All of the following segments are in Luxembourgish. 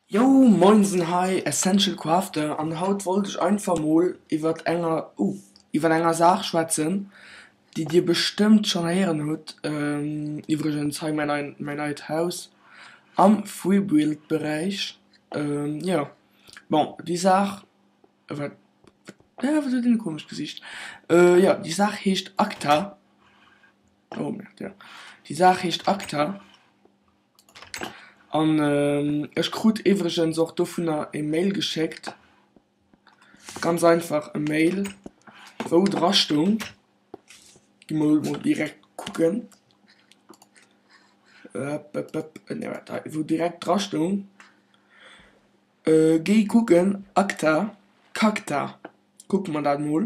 Jou moinsen hei essential crafter an haut wollt ech einfach mol iwwert enger oh iwwert enger Saach schwätzen déi dir bestëmmt schon héieren hutt, iwwregens hei mäin neien mäin neit Haus am Freebuild Beräich jo bon déi Saach wat wat huet deen e komescht Gesicht jo déi Saach heescht ACTA oh merde jo déi Saach heescht ACTA An ech krut iwwregens och dovunner e Mail geschéckt, ganz einfach e Mail, wou dra stoung, gi mer emol direkt kucken, wou direkt dra stoung, géi kucken Acta, Cacta, kucke mer dat emol.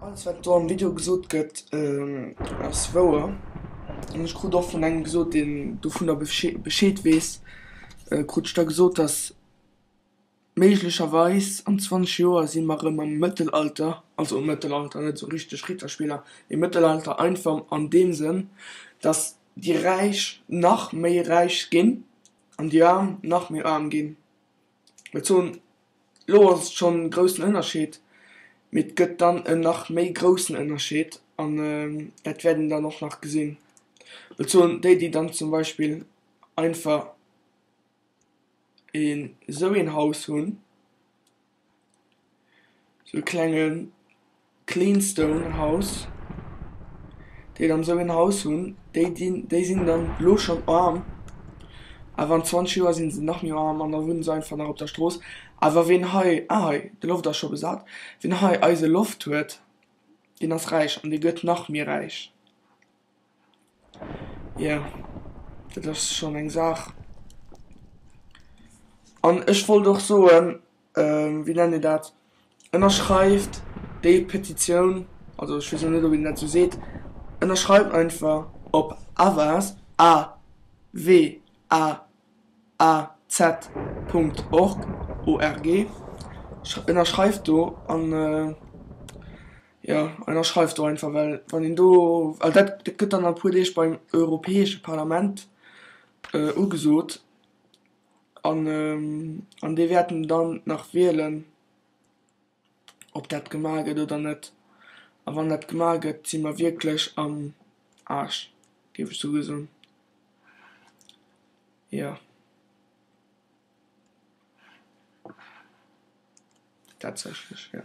Alles wat do am Video gesot gëtt ass wouer, an ech krut och vun engem gesot deen dovunner Bescheed weess, krut ech da gesot datt méiglecherweis an 20 Joer si mer erëm am Mëttelalter, also am Mëttelalter net esou richteg Ritterspiller mee Mëttelalter einfach an deem Sënn datt déi Räich nach méi räich ginn. An déi Aarm nach méi aarm ginn. Well zu elo ass et schonn e groussen Ënnerscheed, mee et gëtt dann en nach méi groussen Ënnerscheed an dat wäert een dann och nach gesinn. Well zu déi, déi dann zum Beispill einfach een esou een Haus hunn, Sou e klenge clean stone house, déi dann esou een Haus hunn, déi dinn, déi sinn dann elo schonn aarm, awer an 20 Joer si se nach méi aarm an da wunne se einfach nach op der Strooss. Awer ween hei, ah hei, de Loft ass scho besat, ween hei eise Loft huet, deen ass räich an dee gëtt nach méi räich. Yeah, dat ass schonn eng Saach. An ech wollt och soen, wéi nennt een dat, ënnerschreift déi Petitioun, also ech weess elo net ob een dat esou seet, ënnerschreift einfach op awas, a-w-a-s. AZ. Org, org, ënnerschreift do an jo ënnerschreift do einfach well wann een do, well dat gëtt dann a puer Deeg beim Europäesche Parlament ugesot an an déi wäerten dann nach wielen. ob dat gemaach gëtt oder net. A wann dat gemaach gëtt, si mer wierklech am Aarsch, géif ech souguer soen. Jo. Tatsächlech, jo.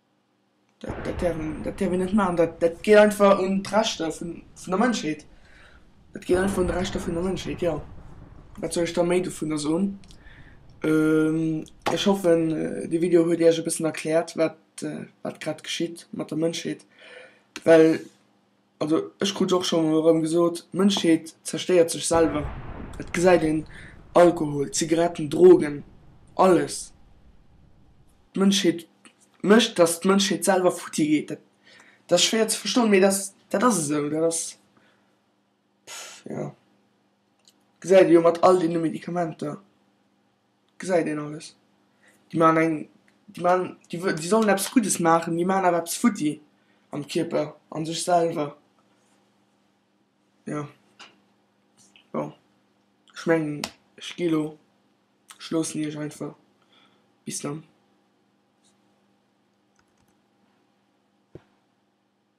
Dat däerf een, dat däerf een net maachen. Dat, dat geet einfach un d'Rechter vun, vun der Mënschheet. Dat geet einfach un d'Rechter vun der Mënschheet, jo. Wat soll ech da méi dovunner soen? Ech hoffen, dee Video huet Iech e bëssen erkläert, wat, wat grad geschitt mat der Mënschheet, well. Also ech krut och schonn erëm gesot, d'Mënschheet zerstéiert sech selwer. Et gesäit een Alkohol, Zigaretten, Drogen, alles. D'Mënschheet mécht, datt d'Mënschheet selwer futti geet. Dat dat ass schwéier ze verstoen, mee dat dat ass esou. Dat ass pff jo. Gesäit ee jo mat all deene Medikamenter. Gesäit een alles. Déi maachen eng, déi maachen, déi sollen eppes Guddes maachen, déi maachen awer eppes futti am Kierper, a sech selwer. Jo. Bon. Ech mengen, ech gi elo. Ech loossen iech einfach. Bis dann.